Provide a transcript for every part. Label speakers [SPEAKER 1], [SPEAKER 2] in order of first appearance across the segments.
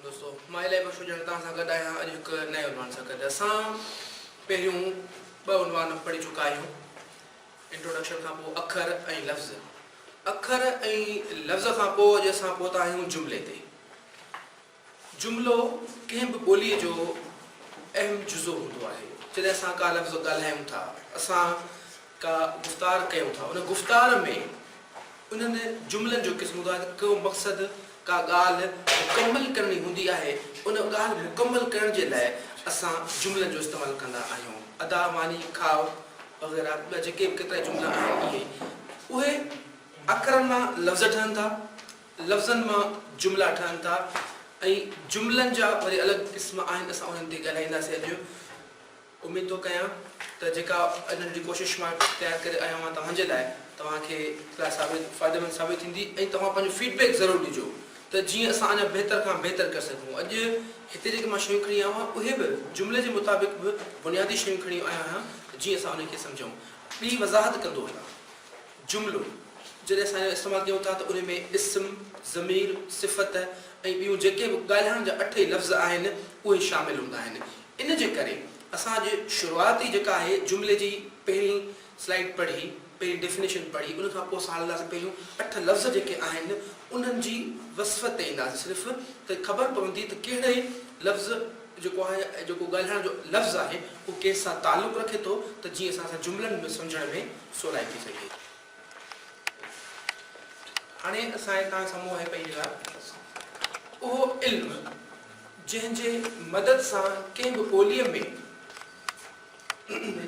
[SPEAKER 1] دوستو مان الائي خوش هجڻ توهان سان گڏ آهيان اڄ هڪ نئين عنوان سان گڏ اسان پهريون ٻه عنوان پڙهي چڪا آهيون انٽروڊڪشن کان پوء اکر ۽ لفظ اکر ۽ لفظ کان پوء اڄ اسان پهتا آهيون جملي تي جملو ڪنهن به ٻوليء جو اهم جزو هوندو آهي. جڏهن اسان ڪا لفظ ڳالهايون ٿا، اسان ڪا گفتار ڪيون ٿا، ان گفتار ۾ انهن جملن جو قسم هوندو آهي ته ڪو مقصد، ڪا ڳالهه مڪمل ڪرڻي هوندي آهي، ان ڳالهه مڪمل ڪرڻ جي لاء اسان جملن جو استعمال ڪندا آهيون. ادا، ماني، کاء وغيره ٻيا جيڪي به ڪيترائي جملا آهن اهي اهي اکرن مان لفظ ٺهن ٿا، لفظن مان جملا ٺهن ٿا ۽ جملن جا وري الڳ قسم آهن اسان انهن تي ڳالهائينداسين اڄ اميد ٿو ڪيان ته جيڪا اڄ ننڍڙي ڪوشش مان تيار ڪري آيو آهيان توهان جي لاء توهان کي لاء ثابت فائديمند ثابت ٿيندي ۽ توهان پنهنجو فيڊ بيڪ ضرور ڏجو ته جيئن اسان اڃا بهتر کان بهتر ڪري سگهون اڄ هتي جيڪي مان شيون کڻي آيو آهيان اهي به جملي جي مطابق به بنيادي شيون کڻي آيو آهيان ته جيئن اسان انهن کي سمجهون ٻي وضاحت ڪندو وڃان. جملو، جڏهن اسان ان جو استعمال ڪيون ٿا ته ان ۾ اسم، ضمير، صفت ۽ ٻيون جيڪي به ڳالهائڻ جا اٺ ئي لفظ آهن، اهي شامل هوندا آهن. ان جي ڪري اسان اڄ شروعات ئي جيڪا آهي جملي جي پهرين سلائيڊ پڙهي، پهرين ڊيفنيشن پڙهي، ان کان پوء اسان هلنداسين پهريون اٺ لفظ جيڪي آهن انهن جي وصف تي اينداسين صرف ته خبر پوندي ته ڪهڙي لفظ جيڪو آهي جيڪو ڳالهائڻ جو لفظ آهي اهو ڪنهن سان تعلق رکي ٿو ته جيئن اسان سان جملن ۾ سمجهڻ ۾ سولائتي سگهي ٿي. هاڻي اسان هتان سمو هي پئي لڳا اهو علم جنهن جي مدد سان ڪنهن به ٻوليء ۾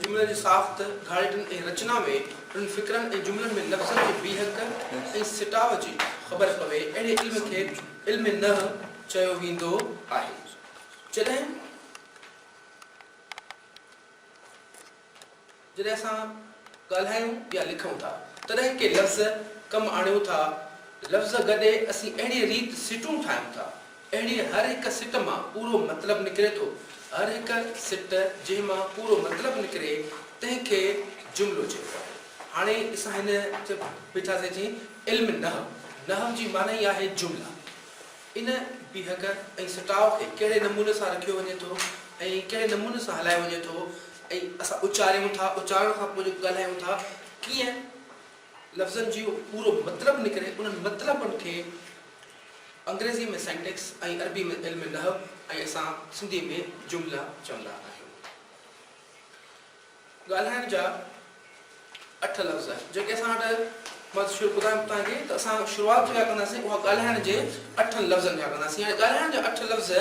[SPEAKER 1] جملن جي ساخت، گهاڙيٽن ۽ رچنا ۾ انهن فڪرن ۽ جملن ۾ لفظن جي بيهڪ ۽ سٽاء جي خبر پوي اهڙي علم کي علم نحو چيو ويندو آهي. جڏهن. جڏهن اسان ڳالهايون يا لکون ٿا، تڏهن ڪي لفظ ڪم آڻيون ٿا. لفظ گڏي اسين اهڙيء ريت سٽون ٺاهيون ٿا. اهڙيء هر هڪ سٽ مان پورو مطلب نڪري ٿو. هر هڪ سٽ جنهن مان پورو مطلب نڪري، تنهن کي جملو چئبو آهي. هاڻي اسان هن چئي بيٺاسين جي علم نحو، نحو جي معني آهي جملا. ان بيهڪ ۽ سٽاء کي ڪهڙي نموني سان رکيو وڃي ٿو ۽ ڪهڙي نموني سان هلايو وڃي ٿو ۽ اسان اچاريون ٿا اچارڻ کان پوء جيڪو ڳالهايون ٿا ڪيئن لفظن جيو پورو مطلب نڪري انهن مطلبن کي انگريزي ۾ سينٽيڪس ۽ عربي ۾ علم نحو ۽ اسان سنڌي ۾ جملا چوندا آهيون. ڳالهائڻ جا اٺ لفظ جيڪي اسان وٽ مان شروع ٻڌايم توهان کي ته اسان شروعات جيڪا ڪنداسين اها ڳالهائڻ جي اٺن لفظن کان ڪنداسين هاڻي ڳالهائڻ جا اٺ لفظ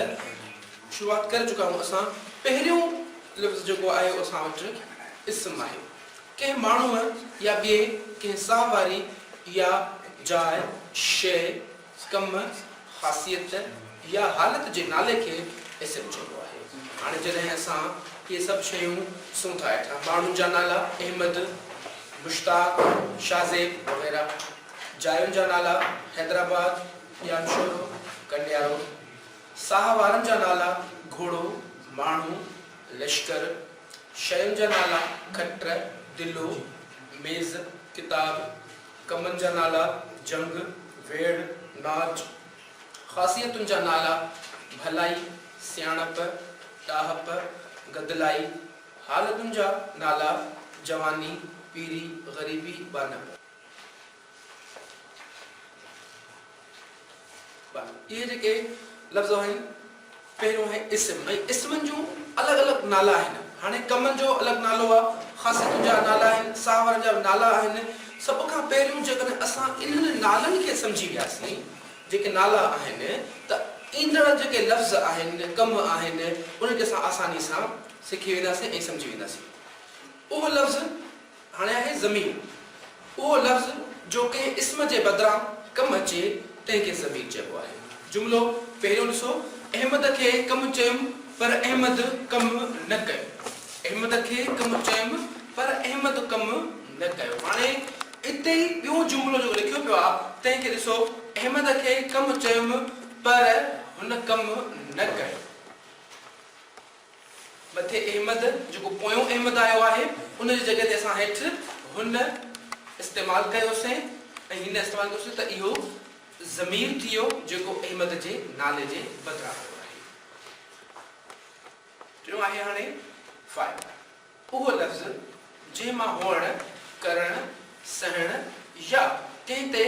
[SPEAKER 1] شروعات ڪري چڪا آهيون اسان پهريون لفظ جيڪو آيو اسان وٽ اسم آهي ڪنهن ماڻهوء يا ٻئي ڪنهن ساهه واري يا جاء شيء ڪم، خاصيت يا حالت جي نالي کي اسم چئبو آهي. هاڻي جڏهن اسان اهي سڀ شيون ڏسون ٿا هيٺان ماڻهن جا نالا، احمد، مشتاق، شاهزيب وغيره. جاين جا نالا، حيدرآباد، ڄامشورو، ڪنڊيارو. ساهه وارن جا نالا، گهوڙو، ماڻهو، لشڪر. شين جا نالا، کٽ، دلو، ميز، ڪتاب، ڪمن جا نالا، جنگ، ويڙهه، ناچ. خاصيتن جا نالا، ڀلائي، سياڻپ، ڏاهپ، گدلائي. حالتن جا نالا، جواني، پيري، غريبي، ٻانهپ. اهي جيڪي لفظ آهن پهريون آهي اسم ۽ اسمن جون الڳ الڳ نالا آهن هاڻي ڪمن جو الڳ نالو آ خاصيتن جا نالا آهن ساهه وارن جا نالا آهن سڀ کان پهريون جيڪڏهن اسان انهن نالن کي سمجهي وياسين جيڪي نالا آهن ته ايندڙ جيڪي لفظ آهن ڪم آهن انهن کي اسان آساني سان سکي وينداسين ۽ سمجهي وينداسين اهو لفظ هاڻي آهي ضمير اهو لفظ جو ڪنهن اسم جي بدران ڪم اچي تنهن کي ضمير چئبو آهي. جملو پهريون ڏسو، احمد کي ڪم چيم پر احمد ڪم نه ڪيو. احمد کي ڪم چيم پر احمد ڪم نه ڪيو. هاڻي اتي ئي ٻيون جملو جيڪو لکيو پيو آهي تنهن کي ڏسو، احمد کي ڪم چيم پر هن ڪم نه ڪيو. مٿي احمد جيڪو پويون احمد آيو آهي ان جي جڳهه تي اسان هيٺ هن استعمال ڪيوسين ۽ هن استعمال ڪيوسين ته اهو ضمير ٿيو جيڪو احمد جي نالي جي بدران آيو آهي. ٽيون آهي هاڻي فاعل. اهو لفظ جنهن مان هئڻ، ڪرڻ، سهڻ يا ڪنهن تي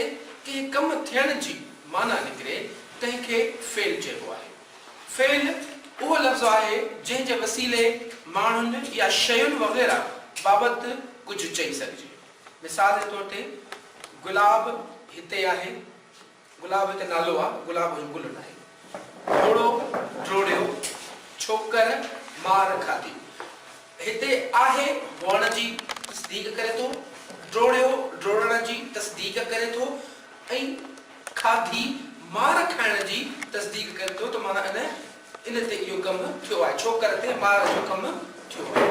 [SPEAKER 1] ڪنهن ڪم ٿيڻ جي معنيٰ نڪري، تنهن کي فعل چئبو آهي. فعل اهو لفظ آهي جنهن جي وسيلي ماڻهن يا شين وغيره بابت ڪجهه چئي سگهجي. مثال جي طور تي، گلاب هتي آهي. گلاب هڪ نالو آ، گلاب جو گل ناهي. ڊوڙو، ڊوڙيو، ڇوڪر مار کاڌي. هتي آهي هئڻ جي تصديق ڪري ٿو، ڊوڙيو ڊوڙڻ جي تصديق ڪري ٿو ۽ کاڌي مار کائڻ جي تصديق ڪري ٿو ته معنيٰ ان ان تي اهو ڪم ٿيو آهي. ڇوڪر تي مار جو ڪم ٿيو آهي.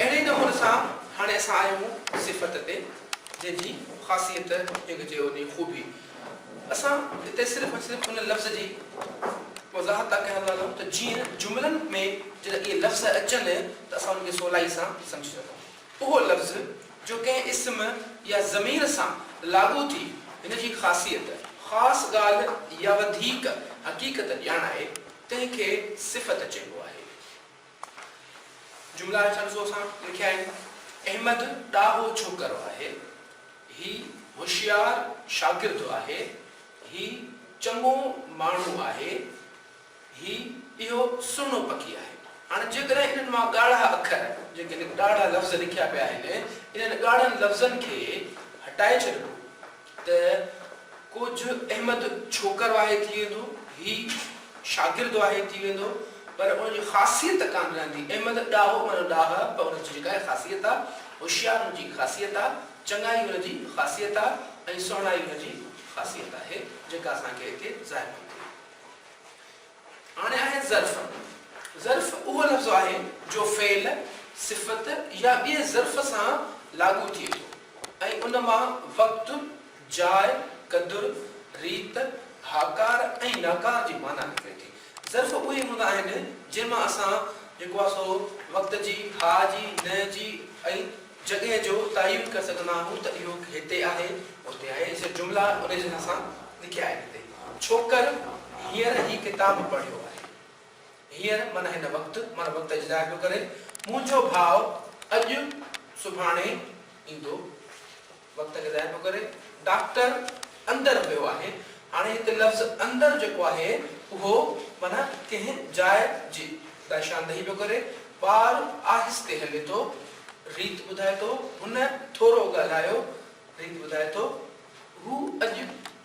[SPEAKER 1] اهڙي نمون سان هاڻي اسان آهيون صفت تي جنهن جي خاصيت جنهن کي چئبو آهي خوبي. اسان هتي صرف ۽ صرف ان لفظ جي وضاحت ٿا ڪيان ٿا هلون ته جيئن جملن ۾ جڏهن اهي لفظ اچن ته اسان ان کي سولائي سان سمجهي سگهون. اهو لفظ جو ڪنهن اسم يا ضمير سان لاڳو ٿي هن جي خاصيت، خاص ڳالهه يا وڌيڪ حقيقت ڄاڻائي، تنهن کي صفت چئبو آهي. جملا هيٺان ڏسو اسان لکيا آهن، احمد ڏاهو ڇوڪرو آهي. هي هوشيار شاگرد آهي. هي چڱو ماڻهو آهي. هي اهو سهڻو پکي آهي. هاڻ جيڪڏهن انهن مان ڳاڙها اکر، جيڪي هن ڳاڙها لفظ لکيا پيا آهن، انهن ڳاڙهن لفظن کي هٽائي ڇڏبو ته ڪوجهه احمد ڇوڪر واهي ٿي ويندو، هي شاگرد واهي ٿي ويندو، پر ان جي خاصيت ڪانه رهندي. احمد ڏاهو معنيٰ ڏاهه، پر ان جي جيڪا خاصيت آهي، هوشيار ان جي خاصيت آهي، چڱائي ان جي خاصيت آهي ۽ سهڻائي ان جي خاصيت آهي، جيڪا اسان کي هتي ظاهر ٿي ٿئي. هاڻي آهي ظرف. ظرف اهو لفظ آهي جو فعل، صفت يا ٻئي ظرف سان لاڳو ٿئي ٿو ۽ ان مان وقت، جاء، قدر، ريت، هاڪار ۽ ناڪار جي معنيٰ نڪري ٿي. ظرف اهي هوندا آهن جنهن مان اسان جيڪو آهي سو وقت جي، هاء جي، نه جي ۽ جڳهه جو تعين ڪري سگهندا آهيون ته اهو هتي آهي، هتي آهي جيئن جملا انهي جي ناسان لکيا آهن هتي ڇوڪر هينئر هي ڪتاب پڙهيو آهي. هينئر معنيٰ هن وقت معنيٰ وقت جي ظاهر پيو ڪري منهنجو ڀاء اڄ سڀاڻي ايندو. وقت کي ضايع پيو ڪري. ڊاڪٽر اندر ويو آهي. هاڻي هتي لفظ اندر جيڪو آهي اهو معنيٰ ڪنهن جاء جي لاء شاندهي پيو ڪري. ٻار آهستي هلي ٿو. ريت ٻڌائي ٿو. هن ٿورو ڳالهايو. ريت ٻڌائي ٿو. هو اڄ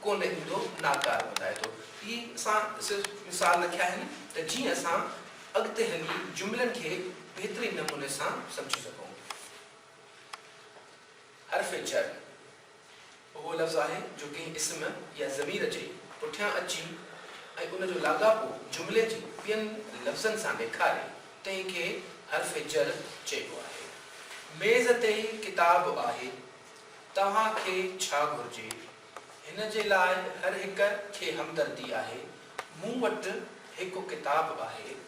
[SPEAKER 1] ڪونه ايندو ناڪاره ٻڌائي ٿو. هي اسان صرف مثال رکيا آهن ته جيئن اسان اڳتي هلي جملن کي بهترين نموني سان سمجهي سگهون. حرف جر اهو لفظ آهي جو ڪنهن اسم يا ضمير جي پٺيان اچي ۽ ان جو لاڳاپو جملي جي ٻين لفظن سان ڏيکاري، تنهن کي حرف جر چئبو آهي. ميز تي ڪتاب آهي، توهان کي ڇا گهرجي؟ هن جي لاء هر هڪ کي همدردي آهي، مون وٽ هڪ ڪتاب آهي،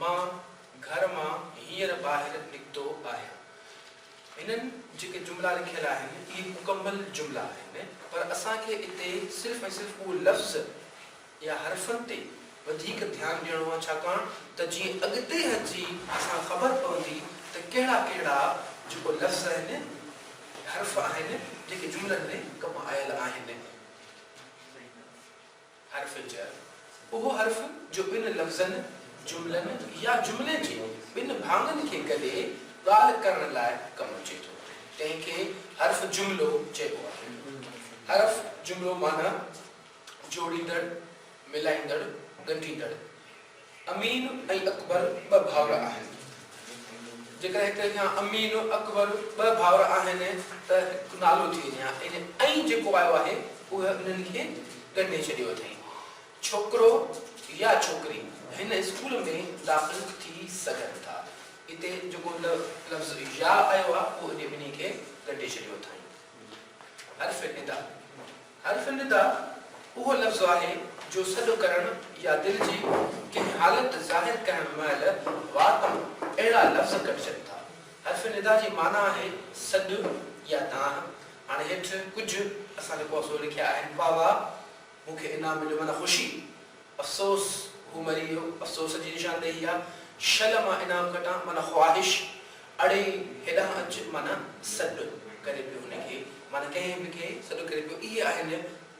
[SPEAKER 1] مان گهر مان هينئر ٻاهر نڪتو آهيان. هنن جيڪي جملا لکيل آهن اهي مڪمل جملا آهن پر اسان کي اتي صرف ۽ صرف اهو لفظ يا حرفن تي وڌيڪ ڌيان ڏيڻو آهي ڇاڪاڻ ته جيئن اڳتي هلجي اسان کي خبر پوندي ته ڪهڙا ڪهڙا جيڪو لفظ آهن حرف آهن جيڪي جملن ۾ ڪم آيل آهن. حرف جر، اهو حرف جو ٻن لفظن، جملن يا جملي جي ٻن ڀاڱن کي گڏي ڳالهه ڪرڻ لاء ڪم اچي ٿو، تنهن کي حرف جملو چئبو آهي. حرف جملو معنيٰ جوڙيندڙ، ملائيندڙ، ڳنڍيندڙ. امين ۽ اڪبر ٻه ڀائر آهن. جيڪڏهن هڪ يا امين، اڪبر ٻه ڀائر آهن ته هڪ نالو ٿي وڃي ها ان ۽ جيڪو آيو آهي اهي انهن کي ڳنڍي ڇڏيو اٿئي. ڇوڪرو يا ڇوڪري هن اسڪول ۾ داخل ٿي سگهن ٿا. اتي جيڪو لفظ يا آيو آهي اهو انهي ٻنهي کي ڳنڍي ڇڏيو اٿائين. حرف ندا. حرف ندا اهو لفظ آهي جو سڏ ڪرڻ يا دل جي ڪنهن حالت ظاهر ڪرڻ مهل وات تان اهڙا لفظ ڪڍجن ٿا. حرف ندا جي معنيٰ آهي سڏ يا دانهن. هاڻي هيٺ ڪجهه اسان جي پوسو لکيا آهن، واهه واهه، مون کي انعام مليو معنيٰ خوشي، افسوس، هو مري ويو، افسوس جي نشاندهي آهي، شل مان انعام کٽان معنيٰ خواهش، اڙي هيڏانهن اچ معنيٰ سڏ ڪري پيو هن کي معنيٰ ڪنهن به کي سڏ ڪري پيو اهي آهن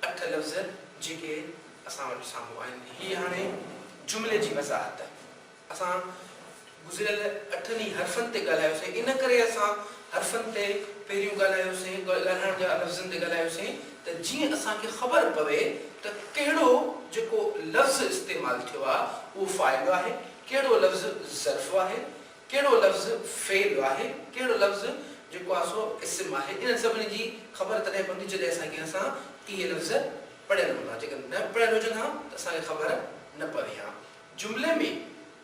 [SPEAKER 1] اٺ لفظ جيڪي اسان وٽ سامهون آهن هي هاڻي جملي جي وضاحت اسان گذريل اٺن ئي حرفن تي ڳالهايوسين ان ڪري اسان حرفن تي پهريون ڳالهايوسين ڳالهائڻ جا لفظن تي ڳالهايوسين ته جيئن اسان کي خبر پوي ته ڪهڙو جيڪو لفظ استعمال ٿيو آهي اهو فاعل آهي ڪهڙو لفظ ظرف آهي ڪهڙو لفظ فعل آهي، ڪهڙو لفظ جيڪو آهي سو اسم آهي، انهن سڀني جي خبر تڏهن پوندي جڏهن اسان ڪنهن سان اهي لفظ پڙهيل هوندا، جيڪڏهن نه پڙهيل هجن ها ته اسان کي خبر نه پوي ها. جملي ۾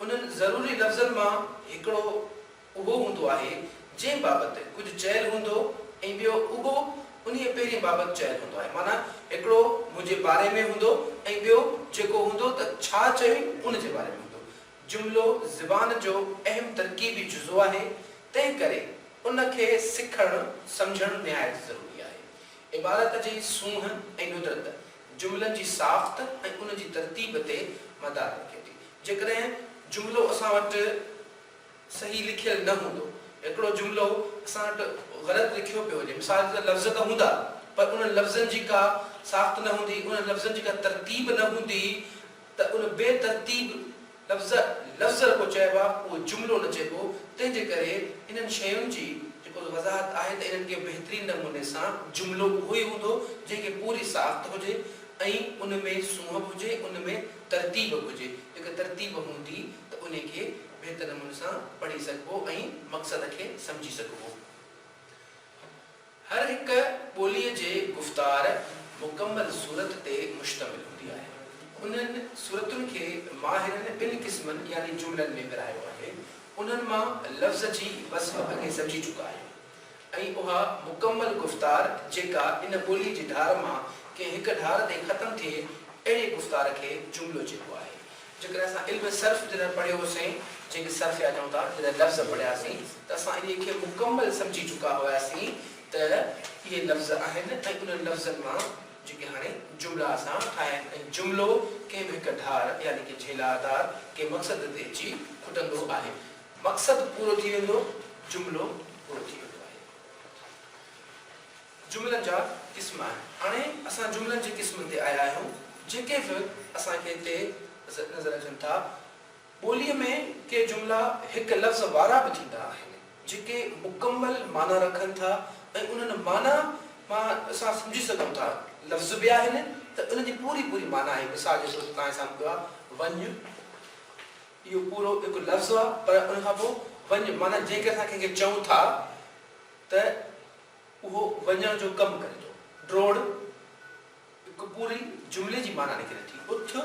[SPEAKER 1] انهن ضروري لفظن مان هڪڙو اهو هوندو آهي جنهن بابت ڪجهه چيل هوندو ۽ ٻيو اهو انهيء پهرين بابت چيل هوندو آهي معنيٰ هڪڙو منهنجي باري ۾ هوندو ۽ ٻيو جيڪو هوندو ته ڇا چيو ان جي باري ۾ هوندو جملو زبان جو اهم ترڪيبي جزو آهي، تنهن ڪري ان کي سکڻ سمجهڻ نهايت ضروري آهي. عبارت جي سونهن ۽ ندرت جملن جي ساخت ۽ ان جي ترتيب تي مدار رکي ٿي. جيڪڏهن جملو اسان وٽ صحيح لکيل نه هوندو، هڪڙو جملو اسان وٽ غلط لکيو پيو هجي، مثال جي طور لفظ ته هوندا پر انهن لفظن جي ڪا ساخت نه هوندي، انهن لفظن جي ڪا ترتيب نه هوندي، ته ان بي ترتيب لفظ لفظ رڳو چئبا اهو جملو نه چئبو تنهن جي ڪري انهن شين جي جيڪو وضاحت آهي ته انهن کي بهترين نموني سان جملو اهو ئي هوندو جنهن کي پوري ساخت هجي ۽ ان ۾ سونهن به هجي ان ۾ ترتيب به هجي جيڪا ترتيب هوندي ته انهي کي بهتر نموني سان پڙهي سگهبو ۽ مقصد کي سمجهي سگهبو. هر هڪ ٻوليء جي گفتار مڪمل صورت تي مشتمل هوندي آهي. انهن صورتن کي ماهرن ٻن قسمن يعني جملن ۾ ورهايو آهي. انهن مان لفظ جي وصف اڳي سمجهي چڪا آهيون ۽ اها مڪمل گفتار جيڪا ان ٻوليء جي ڌار مان ڪنهن هڪ ڌار تي ختم ٿئي اهڙي گفتار کي جملو چئبو آهي. جيڪڏهن اسان علم صرف جڏهن پڙهيو هو سين جيڪي صرف يا چئون ٿا جڏهن لفظ پڙهيا سين ته اسان انهي کي مڪمل سمجهي چڪا هيا سين ته اهي لفظ آهن ۽ انهن لفظن مان جيڪي هاڻي جملا اسان ٺاهيا آهن ۽ جملو ڪنهن به هڪ ڍار يعني ڪي جهيلار ڌار ڪي مقصد تي اچي کٽندو آهي مقصد پورو ٿي ويندو جملو پورو ٿي ويندو آهي. جملن جا قسم آهن. هاڻي اسان جملن جي قسمن تي آيا آهيون، جيڪي به اسان کي هتي نظر اچن ٿا. ٻوليء ۾ ڪي جملا هڪ لفظ وارا به ٿيندا آهن، جيڪي مڪمل معنيٰ رکن ٿا ۽ انهن معنيٰ مان اسان سمجهي سگهون ٿا لفظ به آهن ته انهن جي پوري پوري معنيٰ آهي. مثال جي طور تي توهان سامهون پيو آهي وڃ، اهو پورو هڪ لفظ آهي پر ان کان پوء وڃ معنيٰ جيڪڏهن اسان ڪنهن کي چئون ٿا ته. اهو وڃڻ جو ڪم ڪري ٿو. ڊوڙ هڪ پوري جملي جي معنيٰ نڪري ٿي. اٿ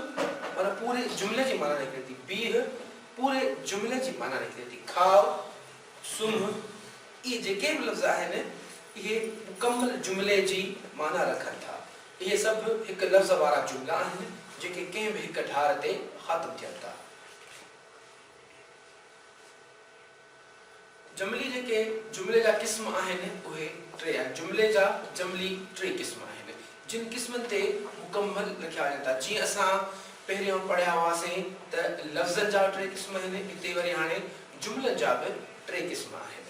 [SPEAKER 1] معنيٰ پوري جملي جي معنيٰ نڪري ٿي. بيهه پوري جملي جي معنيٰ نڪري ٿي. کاء، سمهه، اهي جيڪي به لفظ آهن، اهي مڪمل جملي جي معنيٰ رکن ٿا. اهي سڀ هڪ لفظ وارا جملا آهن، جيڪي ڪنهن به هڪ ڍار تي خاتم ٿين ٿا. جملي جيڪي جملي جا قسم آهن اهي ٽي آهن. جملي جا جملي ٽي قسم آهن. جن قسمن تي مڪمل لکيا وڃن ٿا. جيئن اسان پهريان پڙهيا هئاسين ته لفظن جا ٽي قسم آهن، هتي وري هاڻي جملن جا به ٽي قسم آهن،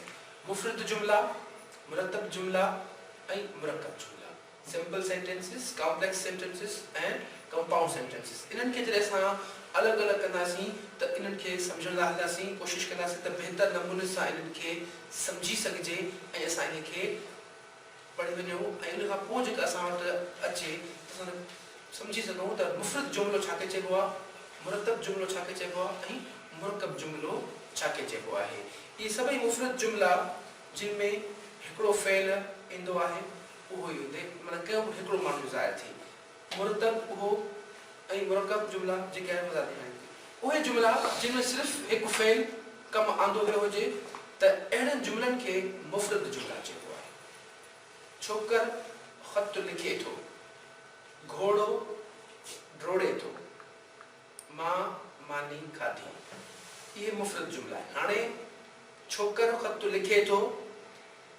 [SPEAKER 1] مفرد جملا، مرتب جملا ۽ مرڪب جملا. Simple sentences, complex sentences ۽ compound sentences انهن کي جڏهن اسان الڳ الڳ ڪنداسين ته انهن کي سمجهڻ لاء هلنداسين ڪوشش ڪنداسين ته بهتر نموني سان انهن کي سمجهي سگهجي ۽ اسان انهي کي پڙهي وڃون ۽ ان کان پوء جيڪا اسان وٽ اچي ته اسان سمجهي سگهون ته مفرد جملو ڇا کي چئبو آهي، مرتب جملو ڇا کي چئبو آهي ۽ مرڪب جملو ڇا کي چئبو آهي. اهي سڀئي مفرد جملا جن ۾ هڪڙو فعل ايندو آهي. اهو ئي هتي معنيٰ ڪيو به هڪڙو معني ظاهر ٿئي. مرتب اهو ۽ مرڪب جملا جيڪي آهن مضارع آهن. اهي جملا جن ۾ صرف هڪ فعل ڪم آندو ويو هجي ته اهڙن جملن کي مفرد جملا چئبو آهي. ڇوڪر خط لکي ٿو. گهوڙو ڊوڙي ٿو. مان ماني کاڌي. اهي مفرد جملا آهن. هاڻي ڇوڪر خط لکي ٿو.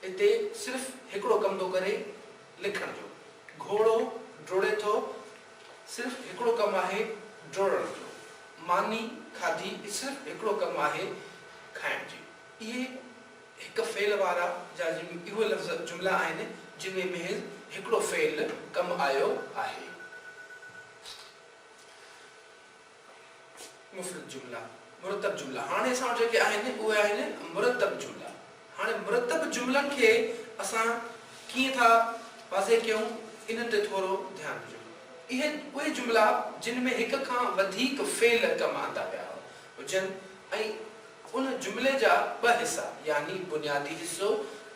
[SPEAKER 1] اتي صرف هڪڙو ڪم ٿو ڪري لکڻ جو. گهوڙو ڊوڙي ٿو. صرف هڪڙو ڪم آهي ڊوڙڻ جو. ماني کاڌي صرف هڪڙو ڪم آهي کائڻ جي. اهي هڪ فعل وارا يا اهو لفظ جملا آهن جن ۾ محض هڪڙو فعل ڪم آيو آهي. مفرد جملا، مرتب جملا، هاڻي اسان وٽ جيڪي آهن اهي آهن مرتب جملا. هاڻي مرتب جملن کي اسان ڪيئن ٿا واضح ڪيون انهن تي ٿورو ڌيان ڏجو. اهي اهي جملا جن ۾ هڪ کان وڌيڪ فعل ڪم آندا ويا هجن ۽ ان جملي جا ٻه حصا يعني بنيادي حصو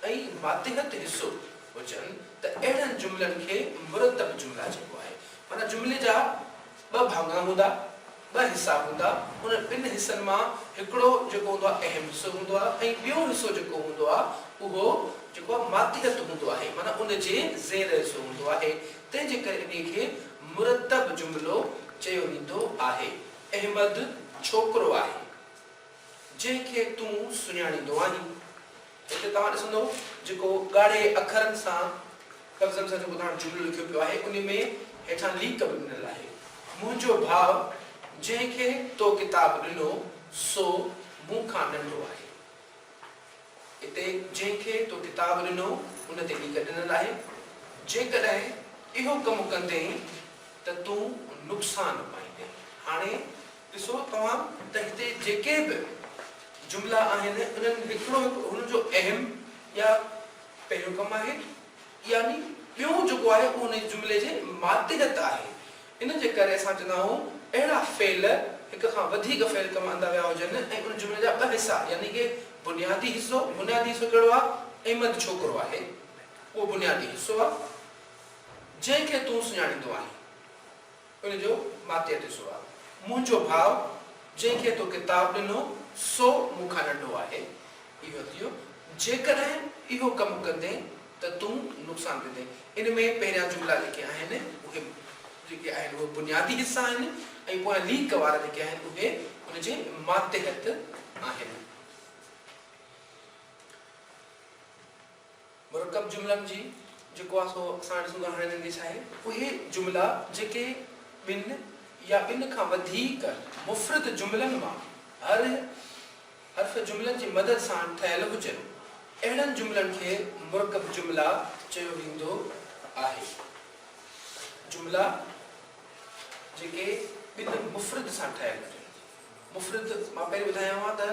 [SPEAKER 1] ۽ ماتحت حصو هجن ته اهڙن جملن کي مرتب جملا چئبو آهي. معنيٰ جملي جا ٻه ڀاڱا هوندا، ٻه حصا هوندا، ان ٻن حصن مان هڪڙو جيڪو هوندو آهي اهم حصو هوندو آهي ۽ ٻيو حصو جيڪو هوندو آهي اهو جيڪو آهي ماتحت هوندو آهي معنيٰ ان جي زير حصو هوندو آهي تنهن جي ڪري انهي کي مرتب جملو چيو ويندو آهي احمد ڇوڪرو آهي جنهن کي تون سڃاڻيندو آهين. هتي توهان ڏسندئو جيڪو ڳاڙهي اکرن سان لفظن سان جيڪو توهان جملو لکيو پيو آهي انهي ۾ هيٺان ليڪ به ڏنل آهي منهنجو ڀاء جنهن کي تو ڪتاب ڏنو سو مون کان ننڍو آهي اتي جنهن کي تو ڪتاب ڏنو ان تي ليڪ ڏنل آهي جيڪڏهن اهو ڪم ڪندين ته تون نقصان پائيندين هاڻي ڏسو توهان ته هتي جيڪي به جملا آهن انهن لکڻو هڪ هن جو اهم يا پهريون ڪم آهي يعني ٻيون جيڪو آهي اهو ان جملي جي ماتحت آهي ان جي ڪري اسان چوندا آهون اهڙا فعل هڪ کان وڌيڪ فعل ڪم اندا ويا هجن ۽ ان جملي جا ٻه حصا يعني ڪي بنيادي حصو بنيادي حصو ڪهڙو آهي احمد ڇوڪرو آهي اهو بنيادي حصو آهي جنهن کي تون سڃاڻيندو آهين. ان جو ماتيء تي سوال، منهنجو ڀاء جنهن کي تو ڪتاب ڏنو سو مون کان ننڍو آهي. اهو ٿيو، جيڪڏهن اهو ڪم ڪندين ته تون نقصان ڪندين. ان ۾ پهريان جملا جيڪي آهن اهي جيڪي آهن اهي بنيادي حصا آهن ۽ پويان ليڪ وارا جيڪي آهن اهي ان جي ماتحت آهن. مرڪب جملن جي جيڪو آهي سو اسان ڏسون ٿا هاڻي هنن کي ڇاهي. اهي جملا جيڪي ٻن يا ٻن کان وڌيڪ مفرد جملن مان هر حرف جملن جي مدد سان ٺهيل هجن اهڙن جملن کي مرڪب جملا چيو ويندو آهي. جملا جيڪي ٻن مفرد سان ٺهيل هجن مفرد مان پهرين ٻڌايو آهي ته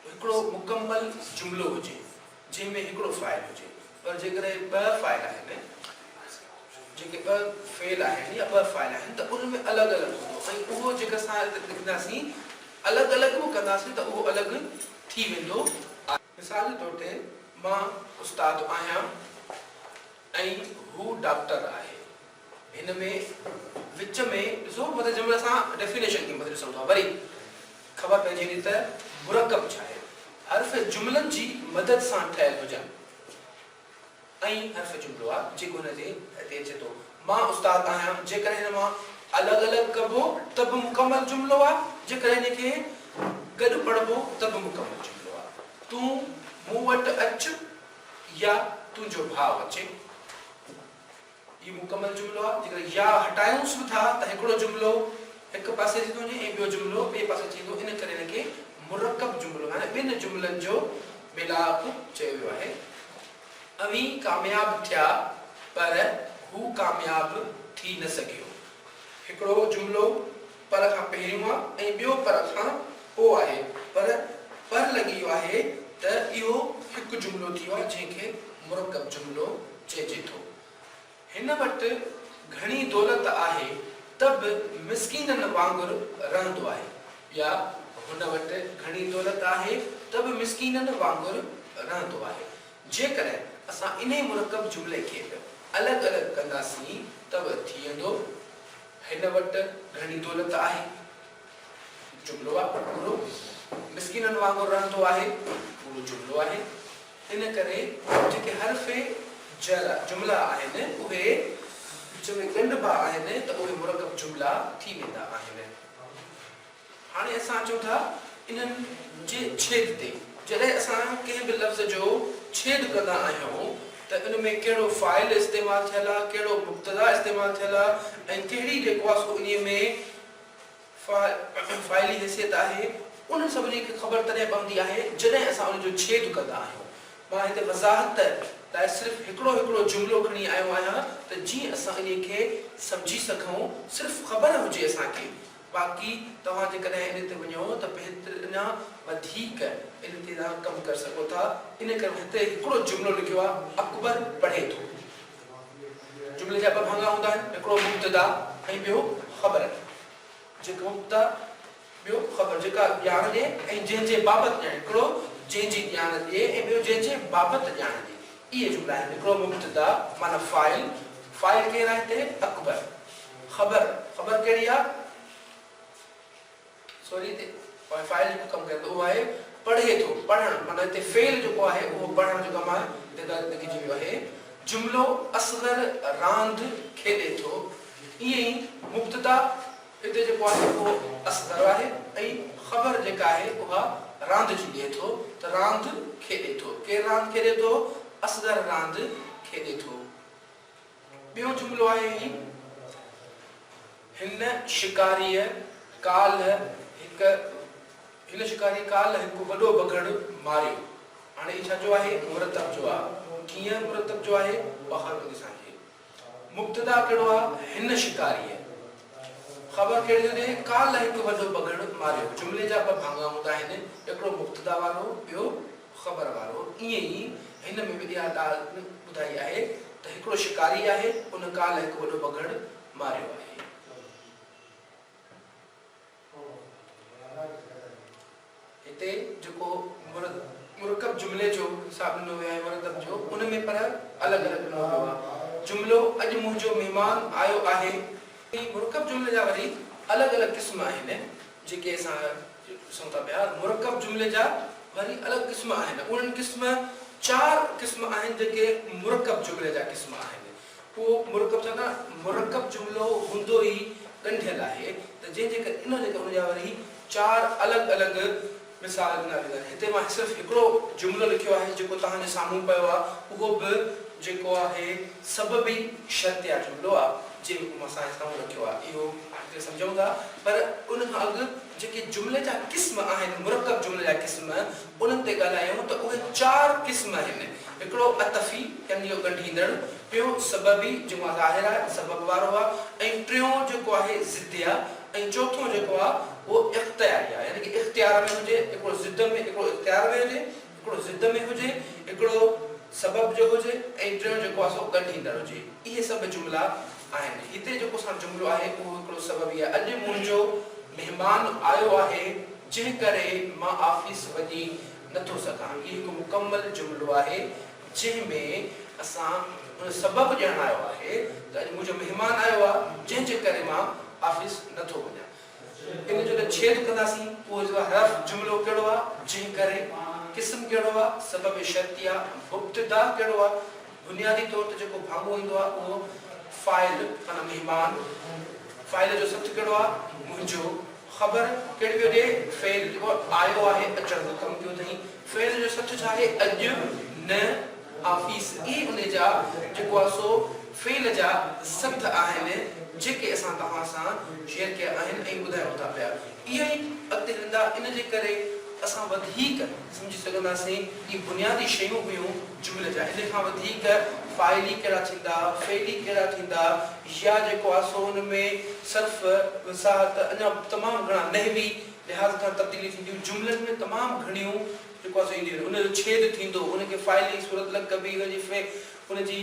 [SPEAKER 1] هڪڙو مڪمل جملو هجي. جنهن ۾ هڪڙو فاعل هجي پر جيڪڏهن ٻه فاعل آهن جيڪي ٻه فعل آهن يا ٻه فاعل آهن ته ان ۾ الڳ الڳ هوندو ۽ اهو جيڪي اسان هتي لکنداسين الڳ الڳ به ڪنداسين ته اهو الڳ ٿي ويندو آهي. مثال جي طور تي مان استاد آهيان. ۽ هو ڊاڪٽر آهي. هن ۾ وچ ۾ ڏسو مطلب جنهن مهل اسان ڊيفينيشن کي مطلب ڏسون ٿا وري خبر پئجي ٿي ته مرڪب ڇا آهي. حرف جملن جي مدد سان ٺهيل هجن. ائين حرف جملو آ جيڪو هن تي هتي اچي ٿو. مان استاد آهيان جيڪڏهن هن مان الڳ الڳ ڪبو ته به مڪمل جملو آ جيڪڏهن هن کي گڏ پڙهبو ته به مڪمل جملو آ. تون مون وٽ اچ. يا تنهنجو ڀاء اچي. هي مڪمل جملو آهي. جيڪڏهن يا هٽايونس به ٿا ته هڪڙو جملو هڪ پاسي اچي ٿو وڃي ۽ ٻيو جملو ٻئي پاسي اچي ويندو. ان ڪري هن کي مرڪب جملو يعني ٻن جملن جو ميلاپ چيو ويو آهي. اوهين ڪامياب ٿيا پر هو ڪامياب ٿي نه سگهيو. هڪڙو جملو. پر کان پهريون آ ۽ ٻيو پر کان پوء آهي پر پر لڳي ويو آهي ته اهو هڪ جملو ٿي ويو آهي جنهن کي مرڪب جملو چئجي ٿو. هن وٽ گهڻي دولت آهي ته به مسڪينن وانگر رهندو آهي يا هن وٽ گهڻي دولت آهي ته به مسڪينن وانگر رهندو آهي. جيڪڏهن اسان انهي مرڪب جملي کي به الڳ الڳ ڪنداسين ته به ٿيندو هن وٽ گهڻي دولت آهي. جملو آ پورو. مسڪينن وانگر رهندو آهي پورو جملو آهي. ان ڪري جيڪي حرف جر جملا آهن اهي وچ ۾ ڳنڍبا آهن ته اهي مرڪب جملا ٿي ويندا آهن. هاڻي اسان اچون ٿا انهن جي ڇيد تي. جڏهن اسان ڪنهن به لفظ جو ڇيد ڪندا آهيون ته ان ۾ ڪهڙو فاعل استعمال ٿيل آ، ڪهڙو مبتدا استعمال ٿيل آ ۽ ڪهڙي جيڪو آ سو انهيء ۾ فاعلي حيثيت آهي، انهن سڀني کي خبر تڏهن پوندي آهي جڏهن اسان ان جو ڇيد ڪندا آهيون. مان هتي وضاحت لاء صرف هڪڙو هڪڙو جملو کڻي آيو آهيان ته جيئن اسان انهيء کي سمجهي سگهون، صرف خبر هجي اسان کي. باقي توهان جيڪڏهن ان تي وڃو ته بهتر اڃا وڌيڪ ان تي توهان ڪم ڪري سگهو ٿا ان ڪري هتي هڪڙو جملو لکيو آهي اڪبر پڙهي ٿو جملي جا ٻه ڀاڱا هوندا آهن هڪڙو مبتدا ۽ ٻيو خبر جيڪو مبتدا ٻيو خبر جيڪا ڄاڻ ڏي ۽ جنهن جي بابت ڄاڻ هڪڙو جنهن جي ڄاڻ ڏي ۽ ٻيو جنهن جي بابت ڄاڻ ڏي اهي جملا آهن، هڪڙو مبتدا معنيٰ فاعل، فاعل ڪير آهي هتي؟ اڪبر، خبر، خبر ڪهڙي آهي؟ سوري تي پوء فاعل جيڪو ڪم ڪري ٿو اهو آهي پڙهي ٿو، پڙهڻ معنيٰ هتي فعل جيڪو آهي اهو پڙهڻ جو ڪم آهي جيڪا هتي لکجي ويو آهي جملو اصغر راند کيڏي ٿو ائين ئي مبتدا. هتي جيڪو آهي اهو اصغر آهي ۽ خبر جيڪا آهي اها راند جي ڏئي ٿو ته راند کيڏي ٿو. ڪير راند کيڏي ٿو؟ اصغر راند کيڏي ٿو. ٻيو جملو آهي هي، هن شڪاريء ڪالهه هڪ هن شڪاريء ڪالهه هڪ وڏو بگهڙ ماريو. هاڻي هي ڇا جو آهي؟ مرتب جو آهي. ڪيئن مرتب جو آهي؟ بخار بندي سان کي. مبتدا ڪهڙو آ هن شڪاريء؟ خبر ڪهڙي جو ڏينهن ڪالهه هڪ وڏو بگهڙ ماريو. جملي جا ٻه ڀاڱا هوندا آهن، هڪڙو مبتدا وارو، ٻيو خبر وارو. ائين ئي هن ۾ به اها ڳالهه ٻڌائي آهي ته هڪڙو شڪاري آهي، ان ڪالهه هڪ وڏو بگهڙ ماريو آهي. هتي جيڪو مرڪب جملي جو حساب ڏنو ويو آهي مرتب جو ان ۾ پر الڳ الڳ ڏنو ويو آهي جملو اڄ منهنجو مهمان آيو آهي ۽ مرڪب جملي جا وري الڳ الڳ قسم آهن جيڪي اسان ڏسون ٿا پيا مرڪب جملي جا وري الڳ قسم آهن انهن قسم چار قسم آهن جيڪي مرڪب جملي جا قسم آهن اهو مرڪب ڇا ڪا مرڪب جملو هوندو ئي ڳنڍيل آهي ته جنهن جي ڪري ان جي ڪري ان جا وري چار الڳ الڳ مثال ڏنا ويندا آهن هتي مان صرف هڪڙو جملو لکيو آهي جيڪو توهان جي سامهون پيو آهي اهو به جيڪو آهي سببي شرطيه جملو آهي جي حڪم سان اسان اهو رکيو آهي اهو هتي سمجهون ٿا پر ان کان اڳ جيڪي جملي جا قسم آهن، مرڪب جملي جا قسم، انهن تي ڳالهايون ته اهي چار قسم آهن، هڪڙو عطفي، يعني جو ڳنڍيندڙ، ٻيو سببي، جيڪو ظاهر آهي ۽ سبب وارو آهي، ۽ ٽيون جيڪو آهي ضدي آهي ۽ چوٿون جيڪو آهي اهو اختياري آهي، يعني ڪي اختيار ۾ هجي، هڪڙو ضد ۾ هڪڙو اختيار ۾ هجي. هڪڙو ضد ۾ هجي، هڪڙو سبب جو هجي ۽ ٽيون جيڪو آهي سو ڳنڍ ايندڙ هجي. اهي سڀ جملا آهن. هتي جيڪو ساڻ جملو آهي اهو هڪڙو سبب ئي آهي. اڄ منهنجو مهمان آيو آهي جنهن ڪري مان آفيس وڃي نه ٿو سگهان. هي هڪ مڪمل جملو آهي جنهن ۾ اسان ان سبب ڄاڻايو آهي ته اڄ منهنجو مهمان آيو آهي جنهن جي ڪري مان آفيس نه ٿو وڃان. ان جو ته ڇيد ڪنداسين اهو جو آ حرف جملو ڪهڙو آ جنهن ڪري، قسم ڪهڙو آ، سبب شرطي آ، مبتدا ڪهڙو آ، بنيادي طور تي جيڪو ڀاڱو ايندو آ اهو فاعل معنيٰ مهمان، فاعل جو سٿ ڪهڙو آ، منهنجو، خبر ڪهڙي پيو ڏي، فعل جيڪو آيو آهي، اچڻ جو ڪم ڪيو اٿئي، فعل جو سٿ ڇا آهي، اڄ، نه، آفيس ئي ان جا جيڪو آ سو فعل جا سبد آهن جيڪي اسان توهان سان شيئر ڪيا آهن ۽ ٻڌايون ٿا پيا اها ئي اڳتي هلندا ان جي ڪري اسان وڌيڪ سمجهي سگهنداسين هي بنيادي شيون هيون جملي جا ان کان وڌيڪ فاعلي ڪهڙا ٿيندا فعلي ڪهڙا ٿيندا يا جيڪو آ سو ان ۾ صرف وضاحت اڃا تمام گهڻا نحوي لحاظ کان تبديليون ٿينديون جملن ۾ تمام گهڻيون جيڪو اسين انجيل ۾ ان جو ڇيد ٿيندو ان کي فاعلي صورت لڳ ڪبي ان جي فعل ان جي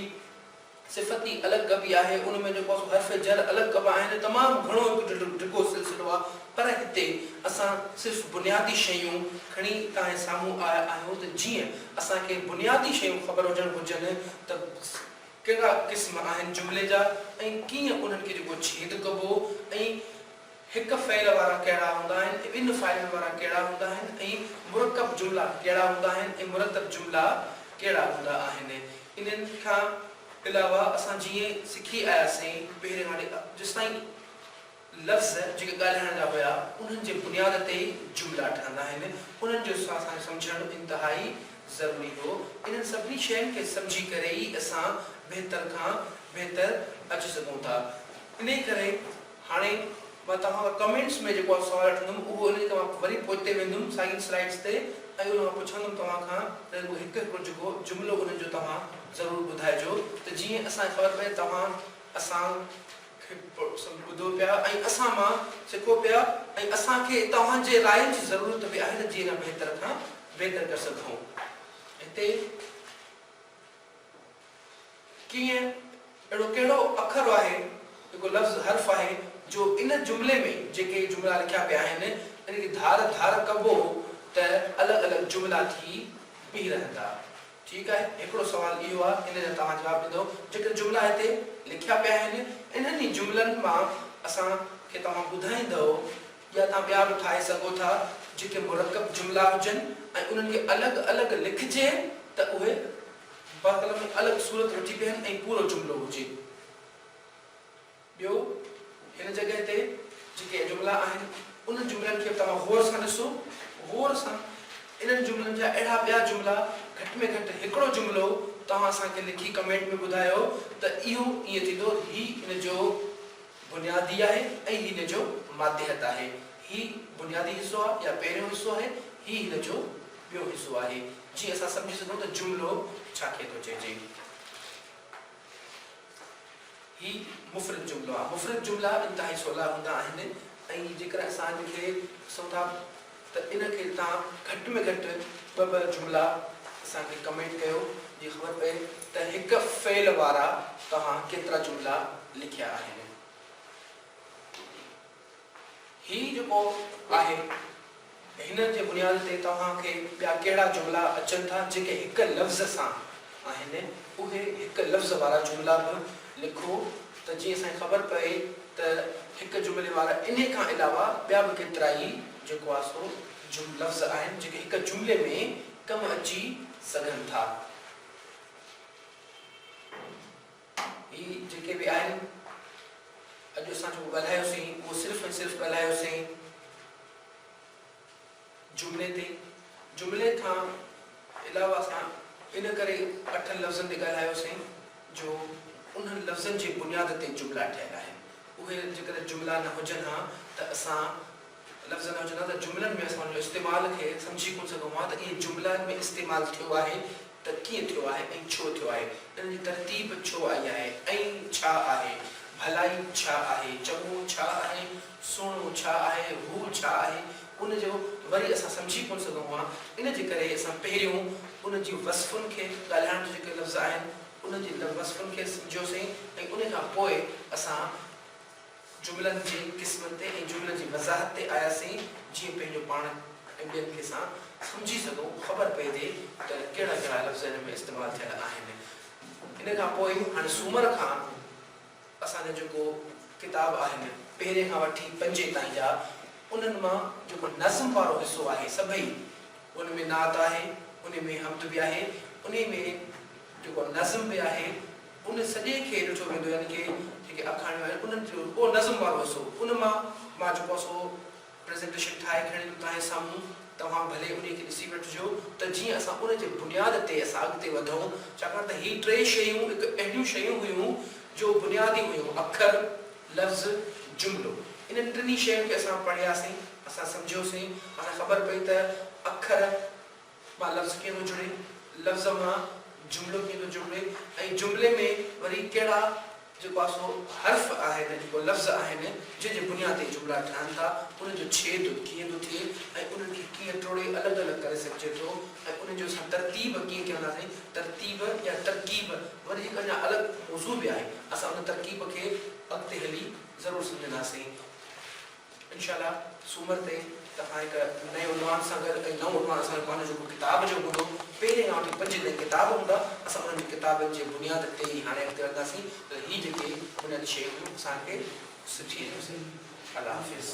[SPEAKER 1] صفت ئي الڳ ڪبي آهي ان ۾ جيڪو سو حرف جر الڳ ڪبا آهن تمام گهڻو هڪ ڊگهو ڊگهو سلسلو آهي پر هتي اسان صرف بنيادي شيون کڻي تانهين سامهون آيا آهيون ته جيئن اسان کي بنيادي شيون خبر هجڻ گهرجن ته ڪهڙا قسم آهن جملي جا ۽ ڪيئن انهن کي جيڪو ڇيد ڪبو ۽ هڪ فعل وارا ڪهڙا هوندا آهن ۽ ٻن فاعلن وارا ڪهڙا هوندا آهن ۽ مرڪب جملا ڪهڙا هوندا آهن ۽ مرتب جملا ڪهڙا هوندا آهن. انهن کان علاوه اسان جيئن سکي آياسين پهرين واري جيستائين لفظ جيڪي ڳالهائڻ جا هيا انهن جي بنياد تي ئي جملا ٺهندا آهن انهن جو اسان کي سمجهڻ انتهائي ضروري هو. انهن سڀني شين کي سمجهي ڪري ئي اسان بهتر کان بهتر اچي سگهون ٿا. انهي ڪري. هاڻي مان توهان کان ڪمينٽس ۾ جيڪو آء سوال وٺندم اهو ان جي ڪري مان وري پوئتي ويندم ساڳين سلائيڊس تي ۽ ان مان پڇندم توهان کان ته رڳو هڪ هڪڙو جيڪو جملو انهن جو توهان ضرور ٻڌائجو ته جيئن اسان کي خبر پئي توهان اسان کي ٻڌو پيا ۽ اسان مان سکو پيا ۽ اسان کي توهان جي راين جي ضرورت به آهي ته جيئن ان بهتر کان بهتر ڪري سگهون هتي. ڪيئن؟ اهڙو ڪهڙو اکر آهي، جيڪو لفظ، حرف، آهي، جو ان جملي ۾ جيڪي جملا لکيا پيا آهن، ان کي ڌار ڌار ڪبو ته الڳ الڳ جملا ٿي بيهي رهندا؟ ٺيڪ آهي، هڪڙو سوال اهو آهي، ان جا توهان جواب ڏيندؤ، جيڪي جملا هتي لکيا پيا آهن، انهن ئي جملن مان اسان کي توهان ٻڌائيندؤ يا توهان ٻيا به ٺاهي سگهو ٿا جيڪي مرڪب جملا هجن ۽ انهن کي الڳ الڳ لکجي ته اهي بقلم ۾ الڳ صورت وٺي بيهن ۽ پورو جملو هجي. ٻيو هن جڳهه تي جيڪي جملا آهن انهن جملن کي به توهان غور سان ڏسو. غور سان انهن جملن جا اهڙا ٻيا جملا گهٽ ۾ گهٽ هڪڙو جملو توهان اسان کي لکي ڪمينٽ ۾ ٻڌايو ته اهو ائين ٿيندو هي ان جو بنيادي آهي ۽ هي هن جو ماتحت آهي. هي بنيادي حصو آهي يا پهريون حصو آهي، هي هن جو ٻيو حصو آهي، جيئن اسان سمجهي سگهون ته جملو ڇا کي ٿو چئجي. هي مفرد جملو آهي. مفرد جملا انتهائي سولا هوندا آهن ۽ جيڪڏهن اسان هن کي ڏسون ٿا. ته ان کي تان گهٽ ۾ گهٽ ٻه ٻه جملا اسان کي ڪمينٽ ڪيو جي خبر پئي ته هڪ فعل وارا توهان ڪيترا جملا لکيا آهن هي جيڪو آهي هن جي بنياد تي توهان کي ٻيا ڪهڙا جملا اچن ٿا جيڪي هڪ لفظ سان آهن اهي هڪ لفظ وارا جملا به لکو ته جيئن اسان کي خبر پئي ته هڪ جملي وارا انهي کان علاوه ٻيا به ڪيترائي جيڪو آهي سو جم لفظ آهن جيڪي هڪ جملي ۾ ڪم اچي سگهن ٿا. هي جيڪي به آهن اڄ اسان جيڪو ڳالهايوسين اهو صرف ۽ صرف ڳالهايوسين. جملي تي، جملي کان علاوه اسان ان ڪري اٺن لفظن تي ڳالهايوسين جو انهن لفظن جي بنياد تي جملا ٺهيل آهن. اهي جيڪڏهن جملا نه هجن ها ته اسان لفظ نه هجن ها ته جملن ۾ اسان ان جو استعمال کي سمجهي ڪونه سگهون ها ته اهي جملا ۾ استعمال ٿيو آهي ته ڪيئن ٿيو آهي ۽ ڇو ٿيو آهي، ان جي ترتيب ڇو آئي آهي ۽ ڇا آهي، ڀلائي ڇا آهي، چڱو ڇا آهي، سهڻو ڇا آهي، هو ڇا آهي، ان جو وري اسان سمجهي ڪونه سگهون ها، ان جي ڪري اسان پهريون ان جي وصفن کي، ڳالهائڻ جا جيڪي لفظ آهن، ان جي وصفن کي سمجهيوسين ۽ ان کان پوء اسان جملن جي قسمن تي ۽ جملن جي وضاحت تي آياسين جيئن پنهنجو پاڻ ۽ ٻين کي سان سمجهي سگهون خبر پئجي ته ڪهڙا ڪهڙا لفظ هن ۾ استعمال ٿيل آهن ان کان پوء هاڻي سومر کان اسان جو جيڪو ڪتاب آهن پهرين کان وٺي پنجين تائين جا انهن مان جيڪو نظم وارو حصو آهي سڀئي ان ۾ نعت آهي انهي ۾ حمد به آهي انهي ۾ جيڪو نظم به آهي ان سڄي کي ڏٺو ويندو يعني ڪي جيڪي اکاڻيون آهن انهن جو اهو نظم وارو حصو ان مان مان جيڪو آهي سو پريزنٽيشن ٺاهي کڻي ايندم توهان جي سامهون توهان ڀلي انهي کي ڏسي وٺجو ته جيئن اسان ان جي بنياد تي اسان اڳتي وڌون ڇاڪاڻ ته هي ٽئي شيون هڪ اهڙيون شيون هيون جو بنيادي هيون اکر، لفظ، جملو انهن ٽنهي شين کي اسان پڙهياسين اسان سمجهيوسين اسان کي خبر پئي ته اکر، مان لفظ ڪيئن ٿو جڙي، لفظ مان جملو ڪيئن ٿو جڙبي ۽ جملي ۾ وري ڪهڙا جيڪو آ سو حرف آهن جيڪو لفظ آهن جنهن جي بنياد تي جملا ٺهن ٿا انهن جو ڇيد ڪيئن ٿو ٿئي ۽ انهن کي ڪيئن ٽوڙي الڳ الڳ ڪري سگهجي ٿو ۽ انهن جو اسان ترتيب ڪيئن چونداسين ترتيب يا ترڪيب وري هڪ اڃا الڳ موضوع به آهي اسان ان ترڪيب کي اڳتي هلي ضرور سمجهنداسين. انشاء الله سومر تائين توهان هڪ نئين عنوان سان گڏ ۽ نئون عنوان اسان جو پنهنجو جيڪو ڪتاب جو هوندو پهرين کان وٺي پنجين تائين ڪتاب هوندا اسان انهن جي ڪتابن جي بنياد تي ئي هاڻي اڳتي وڌنداسين ته هي جيڪي بنيادي شيون هيون اسان کي سٺي ۽ سهي الله حافظ.